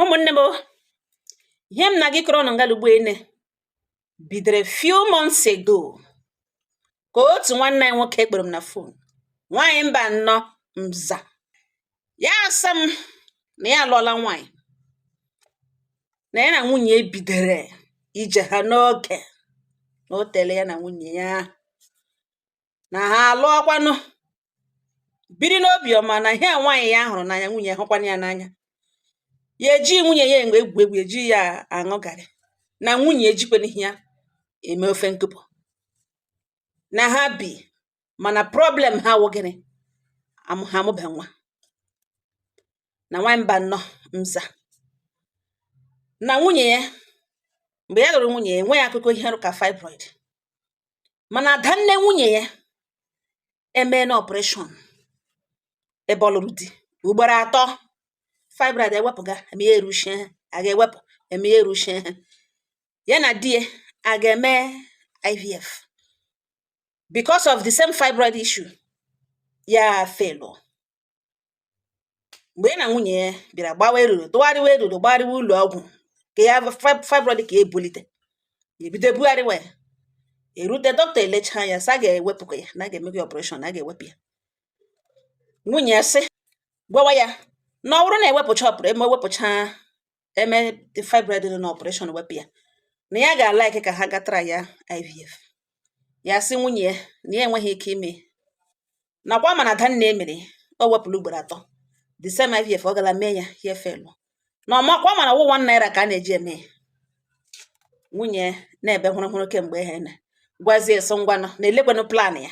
ụmụnne m ihe m na-aga ịkọrọ ụnụ ngalugbo ene bidoro few months ago ka otu nwanne anyị nwoke kpọrọ m na phone nwaanyị mbanọ m za ya asị m na ya alụọla nwaanyị na ya na nwunye bidoro ije ha n'oge na o tere ya na nwunye ya na ha alụọkwanụ biri n'obiọma na ihe nwaanyị ya hụrụ n'anya nwunye hụkwana ya n'anya ya eji nwunye ya egwu egwu eji ya aṅụ garị na nwunye ejikwana ihe ya eme ofe nkụpụ na ha bi mana problem ha wụ gịnị Amụ- ha amụbe nwa na nwaanyị mbanọ m za na nwunye ya mgbe ya lụrụ nwunye ya enweghị akụkọ ihe rị ka fibroid mana adanne nwunye ya emeena operation ebe ọ lụrụ di ugboro atọ fibroid ewepụga eme ya eruchie a ga-ewepụ eme ya eruchie ya na di ya agaa mee IVF because of the same fibroid issue ya felu mgbe ya na nwunye ya bịara gbawa eruru tụgharịwa eruru gbagharịwa ụlọ ọgwụ ka ya fibroid ka ebulite ebido bugharịwa ya erute dọkịta elechaa ya sị a ga-ewepụkwa ya na a ga-eme ya operation na a ga-ewepụ ya nwunye ya sị gwawa ya na ọ wụrụ na ewepụcha ọpụrụ eme ewepụcha eme fibroid na operation wepụ ya na ya ga-alike ka ha gaa trya IVF ya sị nwunye ya na ya enweghị ike ime na ọkwa ma na adanne emere o wepụrụ ugboro atọ the same IVF ọ gara mee ya ya efelu na ọ makwa mana wụ one naira ka a na-eji eme ya nwunye na-ebe hụrụ hụrụ kemgbe ihe na gwazie sị ngwanụ na elekwanụ plan ya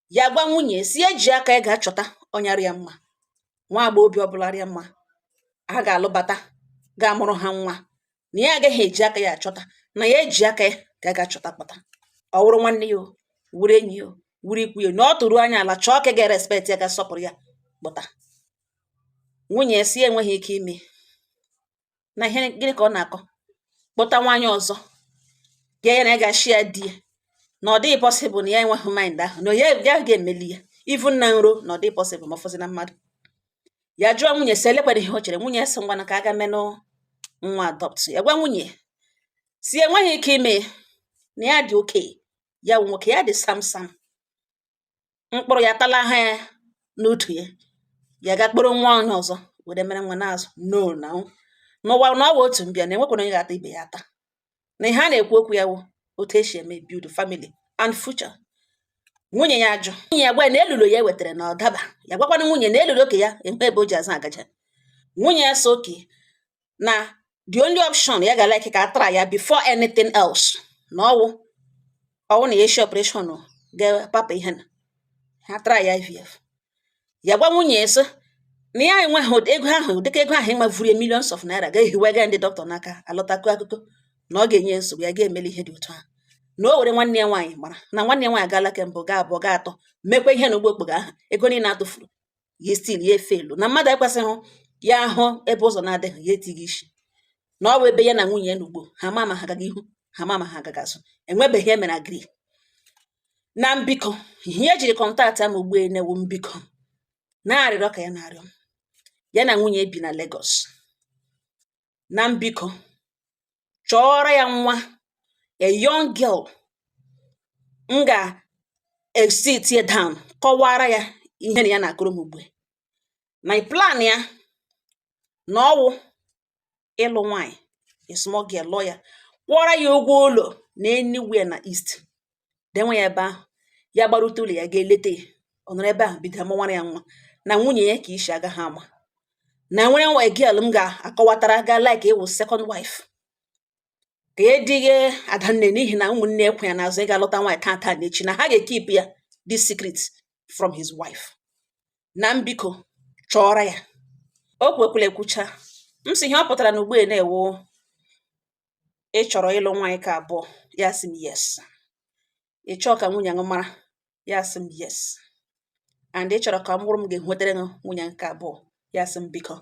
ya gwa nwunye sị ya ji aka ya gaa chọta onye rị ya mma nwa agbọghọbịa ọbụla rị ya mma ha ga-alụbata ga-amụrụ ha nwa na ya agaghị eji aka ya achọta na ya eji aka ya gaa chọta kpọta ọ wụrụ nwanne ya ọ wụrụ enyi ya ọ wụrụ ikwu ya na ọ tụrụ anya ala chọọ nke ga-erespect ya ga-asọpụrụ ya kpọta nwunye sị enweghị ike ime na ihe gịnị ka ọ na-akọ kpọta nwaanyị ọzọ ya na ya ga-ashare di ya na ọ dịghị possible na ya enweghị mind ahụ na ya ya ga-emeli ya even na nrọ na ọ dịghị possible ma ọ fọzie na mmadụ ya jụọ nwunye sị elekwara ihe o chere nwunye ya sị ngwanụ ka a gaa menụ nwa adopt ya gwa nwunye sị enweghị ike ime na ya dị okay ya wụ nwoke ya dị sam sam mkpụrụ ya tala ha n'utu ya ya gaa kpọrọ nwa onye ọzọ were mere nwa na-azụ no na n'ụwa na ọ wụ otu mbịa na enwekwana onye ga-ata ibe ya ata na ihe a na-ekwu okwu ya wụ otu esi eme build family and future nwunye ya ajụ nwunye ya gwa na elulo ya wetara na ọdaba ya gwakwanụ nwunye na elulo nke ya enwe ebe o ji azụ agaja nwunye ya sị okay na the only option ya ga like ka a try-a before anything else na ọwụ ọwụ na ya esi operation ga-apapa ihe na ha try-a IVF ya gwa nwunye sị na ya enweghị ego ahụ dịka ego ahụ ịmavuru ya millions of naira ga-ehiwega ndị dọkịta n'aka alọta kọọ akụkọ na ọ ga-enye nsogbu ya ga-emeli ihe dị otu ahụ na o were nwanne ya nwaanyị mara na nwanne ya nwaanyị gaala ke mbụ gaa abụọ gaa atọ mekwa ihe na ugbu okpogho ahụ ego niile atụfuru ya still ya efail na mmadụ ekwesịghị ya ahụ ebe ụzọ na-adịghị ya etighị isi na ọ bụ ebe ya na nwunye ya nọ ugbu ha ma ma ha ga-aga ihu ha ma ma ha ga-aga azụ enwebeghị emere agree na m biko ihe e jiri kọntaktịa m ugbu na wụ m biko na arịrịọ ka ya na-arịọ m ya na nwunye bi na Lagos na m biko chọọrọ ya nwa a young girl m ga-esit ya down kọwara ya ihe na ya na-akọrọ m ugbu a na plan ya na ọwụ ịlụ nwaanyị a small girl lụọ ya kwụọrọ ya ụgwọ ụlọ na anywhere na east denwe ya ebe ahụ ya gbarute ụlọ ya ga-eleta ya ọ nọrọ ebe ahụ bido amụwara ya nwa na nwunye ya ka isi agaha ama na nwere nwa girl m ga-akọwatara ga like ịwụ second wife ka e dịghị adanne n'ihi na ụmụnne ya kwụ ya n'azụ ịga lụta nwaanyị tata na echi na ha ga-ekeep ya this secret from his wife na m biko chọọrọ ya o kwukwala ekwucha m sị ihe ọ pụtara na ugbu a na wụ ị chọrọ ịlụ nwaanyị ka abụọ ya sị m yes ị chọọ ka nwunye gị mara ya sị m yes and ị chọrọ ka m wụrụ m ga-enwetara gị nwunye nke abụọ ya sị m biko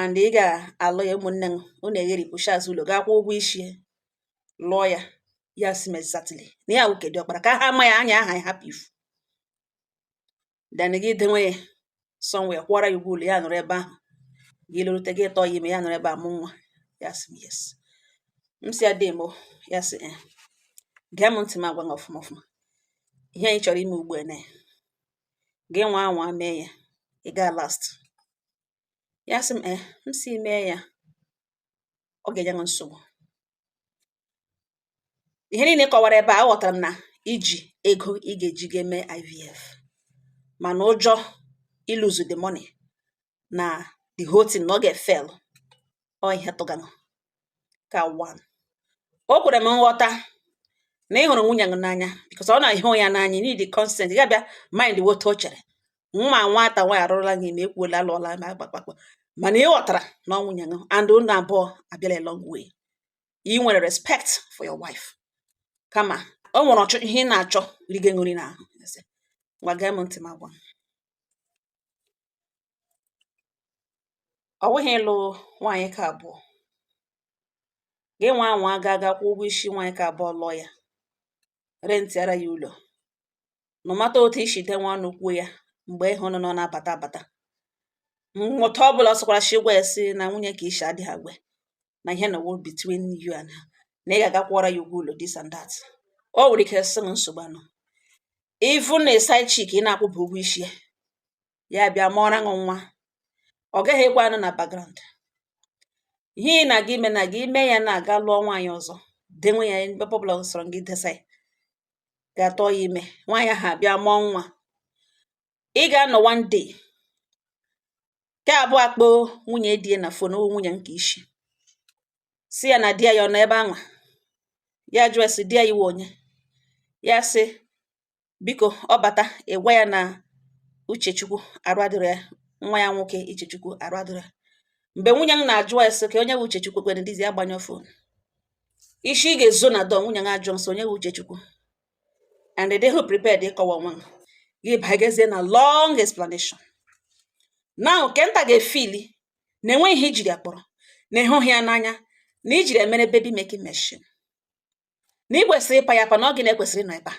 and ị ga-alụ ya ụmụnne gị unu egheripụcha azụ ụlọ gaa kwụọ ụgwọ isi lụọ ya ya sị m exactly na ya wụ ke diọkpara ka ha ma ya anya aha ya hapụ ifu then gị denwe ya somewhere kwụọra ya ụgwọ ụlọ ya nọrọ ebe ahụ gị lọrute gị tụọ ya ime ya nọrọ ebe ahụ mụọ nwa ya sị m yes m sị ya dee m ya sị eh, gee m ntị m agwa gị ọfụma ọfụma ihe na ị chọrọ ime ugbu a na gị nwa anwa mee ya ị gaa last ya sị m eh, m sị mee ya ọ ga-enye m nsogbu ihe niile ị kọwara ebe a aghọtara m na i ji ego ị ga-eji ga eme IVF mana ụjọ iluzu the money na the whole thing na ọ ga-efel ọ ihe tụganụ ka one o kwere m nghọta na ị hụrụ nwunye gị n'anya because ọ na-ahụ ya n'anya you need the consent ị ga-abịa mind what o chere nwa nwata nwaanyị arụrụla gị ma ekwuola alụọla ma gbakpakpa mana ị ghọtara na ọ nwunye gị and unu abụọ abịala a long way i nwere respect for your wife kama o nwere ọchọ ihe ị na-achọ rigo nri n'ahụ ngwa gee m ntị m gwa ọ bụghị ịlụ nwaanyị ka abụọ gị nwa anwa ga aga kwụọ ụgwọ isi nwaanyị ka abụọ lụọ ya rentịara ya ụlọ na mata otu i si denwe ọnụ kwuo ya mgbe ịhụ nọ nọ na-abata abata mmụta ọ bụla sịkwara si gwa ya si na nwunye ka isi adịghị aware na ihe a wụ between you and her na ị ga-aga kwụọra ya ụgwọ ụlọ this and that o nwere ike sị nsogbu anọ even na side chick ị na-akwụba ụgwọ isi ya ya bịa mụọra gị nwa ọ gaghị ekwe anọ na background ihe ị na-aga ime na gị ime ya na-aga lụọ nwaanyị ọzọ denwe ya ebe ọbụla sọrọ gị desa ya ga tụọ ya ime nwaanyị ahụ abịa mụọ nwa ị ga-anọ one day nke abụọ akpọọ nwunye di ya na fon ọ wụ nwunye nke isi sị ya na di ya ọ nọ ebe anwa ya jụọ sị di ya ị wụ onye ya sị biko ọ bata ị gwa ya na uchechukwu arụ adịrọ ya nwa ya nwoke uchechukwu arụ adịrọ ya mgbe nwunye m na-ajụ ya sị ka onye bụ uchechukwu kwere dizi agbanyụọ fon isi ị ga-ezo na dọ nwunye m ajụọ nsọ onye bụ uchechukwu and ị dịghị prepared ịkọwa onwe gị gị bagazie na long explanation now kenta ga-efili na enweghị ihe i jiri ya kpọrọ na ị hụghị ya n'anya na i jiri ya mere baby making machine na ị kwesịrị ịpa ya apa na ọ gị na-ekwesịrị ịnọ ebe a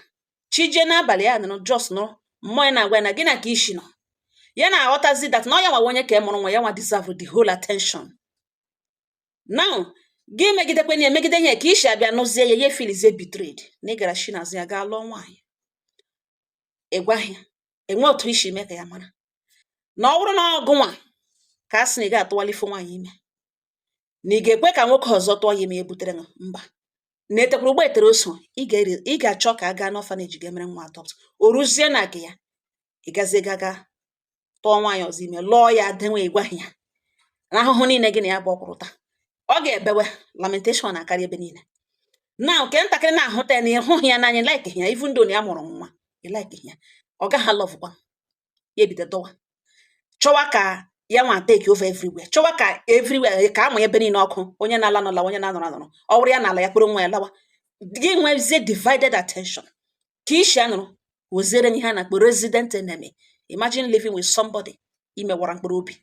chi jee n'abalị ya nọrọ just nọrọ mmụọ ya na-agwa ya na gị na ka isi nọ ya na-aghọtazi that na ọ ya nwa wụ onye ke mụrụ nwa ya nwa deserve the whole attention now gị megidekwe na emegide ya ka isi abịa nụzie ya ya filizie betrayed na ị gara shi n'azụ ya gaa lụọ nwaanyị ị gwaghị ya enwe otu i si mee ka ya mara na ọ bụrụ na ọ gị nwa ka a sị na ị ga-atụwali ife nwaanyị ime na ị ga-ekwe ka nwoke ọzọ tụọ ya ime ya butere gị mba na etekwara ụgbọ etere oso ị ga-achọ ka a gaa n'orphanage ga-emere nwa adopt o ruzie na gị ya ị gazie gaga tụọ nwaanyị ọzọ ime lụọ ya dewe ị gwaghị ya na ahụhụ niile gị na ya abụọ kwụrụ taa ọ ga-ebewe lamentation na-akarị ebe niile na nke ntakịrị na-ahụta ya na ị hụghị ya n'anya like ya even though ya mụrụ nwa ị like ya ọ gaghị alovekwa ya ebido dọwa chọwa ka ya nwa take over everywhere chọwa ka everywhere ka a mụọ ebe niile ọkụ onye na-ala ala onye na-anọrọ anọrọ ọ wụrụ ya na-ala ya kpọrọ nwa ya lawa gị nwezie divided attention ke isi a lụrụ wụziere ihe a na-akpọ resident enemy imagine living with somebody i mewara mkpụrụ obi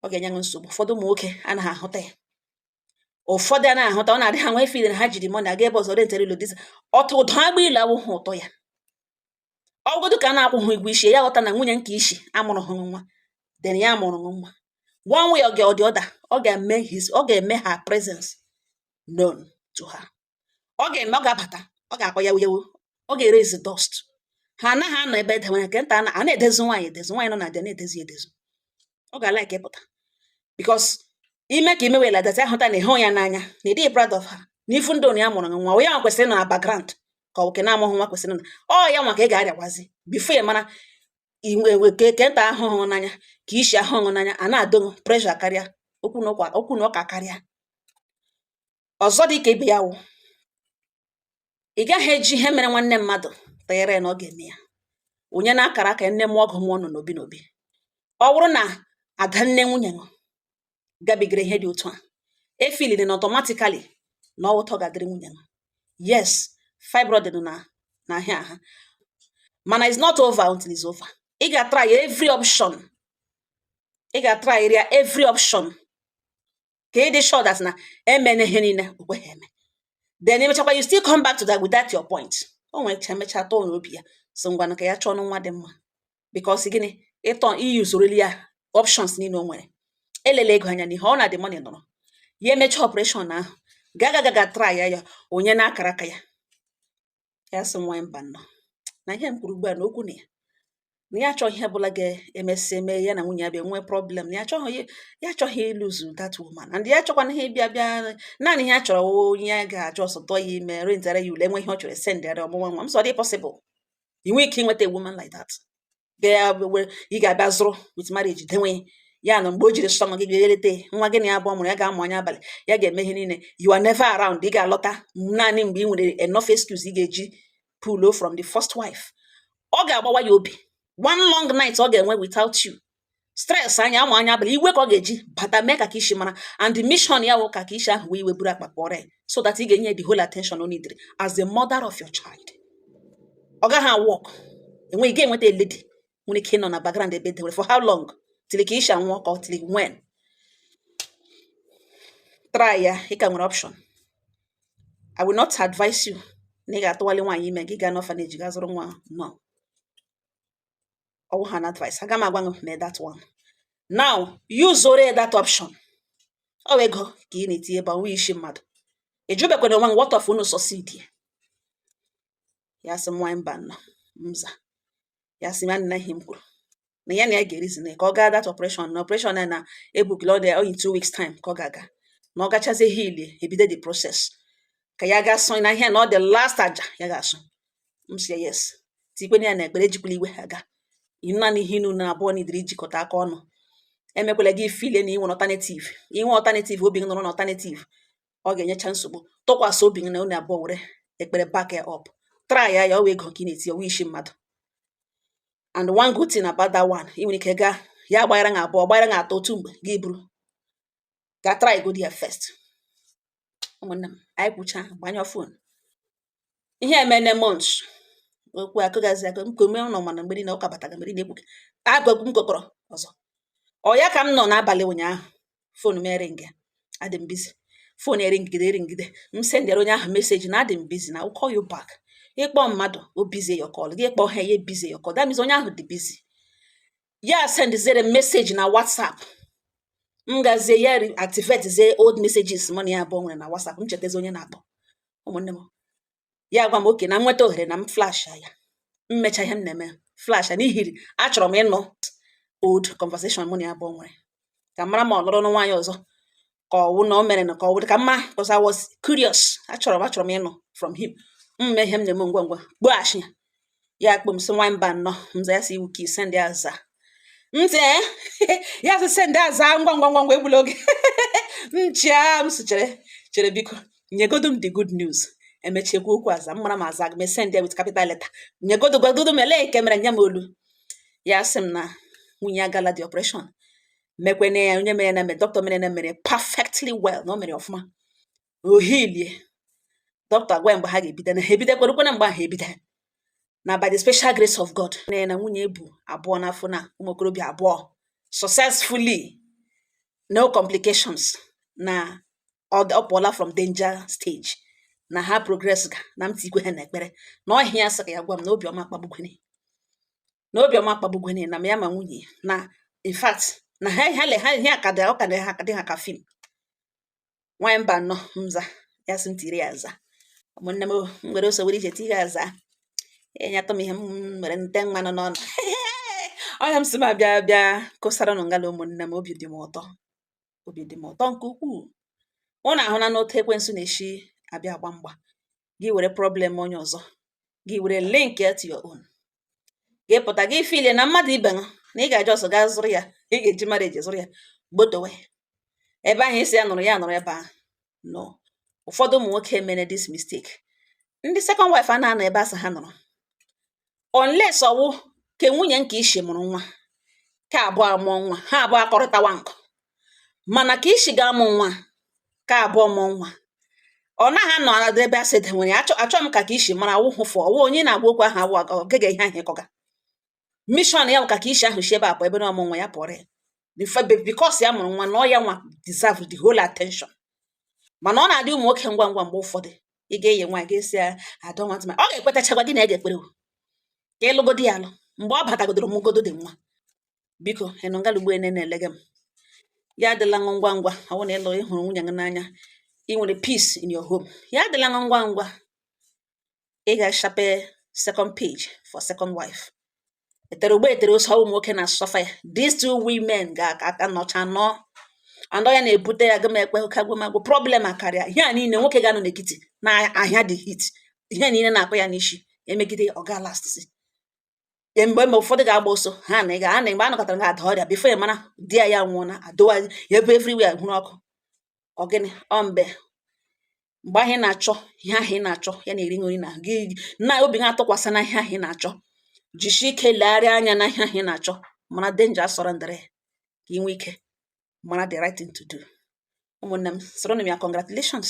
ọ ga-enye gị nsogbu ụfọdụ ụmụ nwoke anaghị ahụta ya ụfọdụ anaghị ahụta ọ na-adị ha nwa ife ha jiri money aga ebe ọzọ rentere ụlọ diza ọtụ ụdọ agba ile awụhụ otu a ọ godu ka a na-akwụghị ụgwọ isi ya ghọta na nwunye nke isi amụrụhụ nwa then ya amụrụ nwa one way or the other ọ ga-eme his ọ ga-eme her presence known to her ọ ga-eme ọ ga-abata ọ ga-akpọ ya wuyewu ọ ga-eraise dust ha anaghị anọ ebe e dewere nke nta a na-edezi nwaanyị edezi nwaanyị nọ na di na-edezi edezi ọ ga like ịpụta because ime ka imewela data ahụta na ị hụghị ya n'anya na ị dịghị proud of her na even though ya mụrụ nwa onye nwa kwesịrị nọ na background ka ọ nwoke na-amụghị nwa kwesịrị na ọ ya nwa ka ị ga-arịakwazi before ya mara keke nta ahụhụ n'anya ke isi ahụhụ n'anya a na-adọ pressure karịa okwu na ụka karịa Ọzọ dị ka ibe ya wụ, ị gaghị eji ihe mere nwanne mmadụ tụnyere ya na ọ ga-eme ya. Onye na akara aka ya nne mụọ ọgụ ụmụ ọ nọ n'obi n'obi. Ọ bụrụ na ada nne nwunye nọ gabigara ihe dị otu a, efeeline na automatically na ọ wụ otu ọ ga-adịrị nwunye nọ. Yes, fibroid nọ na-ahịa ahụ mana it's not over until it's over. Ị ga-atry every option ị ga-atryrịa every option ka ị dị sure that na emena ihe niile okweghị eme then emechakwa you still come back to that with that your point o nwere ike mechaa tọọ n'obi ya sị ngwanụ ka ya chọọ nwa dị mma because gịnị ịtọ iyi usoroli ya options niile o nwere elela ego anya n'ihe ọ na the money nọrọ ya emechaa operation ahụ gaga gaga try ya ya onye na akara aka ya ya sị nwa mbanụ na ihe m kwuru ugbu a na okwu na ya na ya achọghị ihe ọbụla ga-emesị eme ya na nwunye ya bịa nwee problem na ya achọghị ya achọghị ịlose that woman and ya achọkwana ihe bịa bịa naanị ihe ya chọrọ onye ya ga just tụọ ya ime rentara ya ụlọ e nwee ihe ọ chọrọ sendịara ọ mụọ nwa m sị ọ dị possible ị nwere ike inweta a woman like that bịa ya were ị ga-abịa zụrụ with marriage dewe ya na mgbe o jiri sọọnụ gị bịa eleta nwa gị na ya abụọ mụrụ ya ga-amụ anya abalị ya ga-eme ihe niile you are never around ị ga-alọta naanị mgbe ị nwere enough excuse ị ga-eji pụọ from the first wife ọ ga-agbawa ya obi one long night ọ ga-enwe without you stress anya ama anya abalị iwe ka ọ ga-eji bata mee ka ke isi mara and the mission ya wụ ka ke isi ahụ wee iwe buru akpa pụọrọ ya so that ị ga-enye the whole attention o needed as the mother of your child ọ gaghị awork enweghị ga-enweta lady nwere ike ịnọ na background ebe dewere for how long till ke isi anwụọ ka ọ till when try ya ị ka nwere option I will not advise you na ị ga-atụwali nwaanyị ime gị gaa n'orphanage gaa zụrụ nwa no ọ wụ an advice aga m agwa gị mee that one now use ore that option ọ wụ ego ka ị na-etinye ebe ọ wụghị isi mmadụ ị jụbekwana onwe m what if unu succeed ya sị m nwanyị mba nọ mza ya sị m na ihe m kwuru na ya na ya ga-ereason ka ọ gaa that operation na operation na ebookila ọ dị in two weeks time ka ọ ga-aga na ọ gachazie heal ebido the process ka ya ga-asụ na ihe na ọ the last aja ya ga-asụ m sị yes tikwena ya na ekpere ejikwala iwe aga naanị ihe unu na abụọ needịrị ijikọta aka ọnụ emekwala gị feel na i nwe alternative i nwe alternative obi gị nọrọ na alternative ọ ga-enyecha nsogbu tụkwasị obi gị na unu abụọ were ekpere back ya up try ya ya ọ wụ ego ka ị na-eti ọ wụghị isi mmadụ and one good thing about that one ị nwere ike gaa ya ugboro na abụọ ugboro na atọ otu mgbe gị buru ga try go there first ụmụnne m anyị kwucha gbanyụọ phone ihe emene months okwu akụgazi akụ m kome ụlọ mana mgberi na ụka bataga mgberi na-ekwu agwagwu m gokọrọ ọzọ ọ ya ka m nọ n'abalị ụnyaahụ phone m eringa adị m busy phone eringide eringide m sendere onye ahụ message na adị m busy na call you back ịkpọ mmadụ o busy your call gị kpọọ ha ya busy your call that means onye ahụ dị busy ya sendizere message na WhatsApp m gazie ya reactivatezie old messages mụ na ya abụọ nwere na WhatsApp m chetezi onye na-akpọ ụmụnne m ya gwa m okay na m nweta ohere na m flash ya m mecha ihe m na-eme flash n'ihiri achọrọ m ịnụ old conversation mụ na ya abụọ nwere ka m mara ma ọ lụrụ nwaanyị ọzọ ka ọ wụ na o mere na ka ọ wụ ka mma because I was curious achọrọ m achọrọ m ịnụ from him m mee ihe m na-eme ngwa ngwa kpọghachi ya ya kpọ m sị nwanyị Mbano m za ya sị iwu ka i send ya aza m sị eh? ya sị send aza ngwa ngwa ngwa ngwa egbula oge m chịa m sị chere chere biko nyegodo m the good news e mechie kwuo okwu aza m mara m aza gị m esend ya with capital letter nyegodo gwagodo m olee nke mere nye m olu ya sị m na nwunye ya agala the operation mekwene ya onye mere na mere dọkịta mere na mere perfectly well na o mere ọfụma o healie dọkịta gwa mgbe ha ga-ebido na ha ebidokwara kwena mgbe ahụ ebido na by the special grace of God na ya na nwunye ya bu abụọ n'afọ na ụmụ okorobịa abụọ successfully no complications na ọ pụọla from danger stage na ha progress ga na m tikwe ha na ekpere na ọ ihe ya sị ka ya gwa m na obi ọma kpagbukwene na obiọma akpagbugwenye na ya ma nwunye ya na in fact na ha ha le ha ihe aka dị ọ ka dị ha dị ha ka film nwanyị mba nọ mza ya sị m tiri ya aza ụmụnne m o, m were ọsọ were ije tiri aza enye atọ m ihe mere nte mmanụ n'ọnụ ọ ya m sị m abịa bịa kọsara nụ ngala ụmụnne m obi dị m ụtọ obi dị m ụtọ nke ukwuu ụnụ ahụla n'otu ekwensu na-esi abịa agba mgba gị were problem onye ọzọ gị were link ya to your own gị pụta gị feel na mmadụ ibe ṅụ na ị ga-aje ọsọ gaa zụrụ ya ị ga-eji mara eji zụrụ ya gbotowe ebe ahụ ị sị ya nọrọ ya nọrọ ebe ahụ no ụfọdụ ụmụ nwoke mere this mistake ndị second wife a na-anọ ebe a sị ha nọrọ unless ọ wụ ke nwunye nke ishi mụrụ nwa ka abụọ amụọ nwa ha abụọ akọrịtawa nkụ mana ka ishi ga-amụ nwa ka abụọ mụọ nwa ọ naghị anọ anadị ebe a sị dị nwere achọ achọ m ka ka isi mara awụhụ fụ ọ wụ onye na-agwa okwu ahụ awụ aga ogege ihe ahụ ịkọga mission ya bụ ka ka isi ahụ si ebe a pụọ ebe na ọ mụ nwa ya pụọrọ ya because ya mụrụ nwa na ọ ya nwa deserve the whole attention mana ọ na-adị ụmụ nwoke ngwa ngwa mgbe ụfọdụ ị ga-enye nwa ga-esi ya adọ nwata ma ọ ga-ekwetachakwa gị na ya ga-ekpere ka ị lụgodi ya alụ mgbe ọ batagodoro mụgodo dị nwa biko ị nọ ngala ugbo ene na-elege m ya adịla ṅụ ngwa ngwa ọ wụ na ị lụ ị hụrụ nwunye gị n'anya ị nwere peace in your home ya adịla ṅụ ngwa ngwa ị ga-ashape second page for second wife e tere ugbo e tere ose ọ wụ nwoke na-asuffer ya these two women ga-aka aka nọcha nọ andọ ya na-ebute ya gama ekpe oke agwamagwụ problem akarịa ihe a niile nwoke ga-anọ n'ekiti na ahịa the heat ihe niile na-akpọ ya n'isi e megide ọ ga last e, mgbe mgbe ụfọdụ ga-agba ọsọ ha na ịga ha na mgbe a nọkọtara ga-ada ọrịa before ya mara di ya ya nwụọ na adụwa ya ebe everywhere hụrụ ọkụ ọ gịnị ọ mbe mgbe ahụ ị na-achọ ihe ahụ ị na-achọ ya na-eri nri na gị na obi gị atụkwasị na ihe ahụ ị na-achọ jisie ike legharịa anya na ihe ahụ ị na-achọ mara danger surrounding it ka ị nwee ike mara the right thing to do ụmụnne m soro m ya congratulations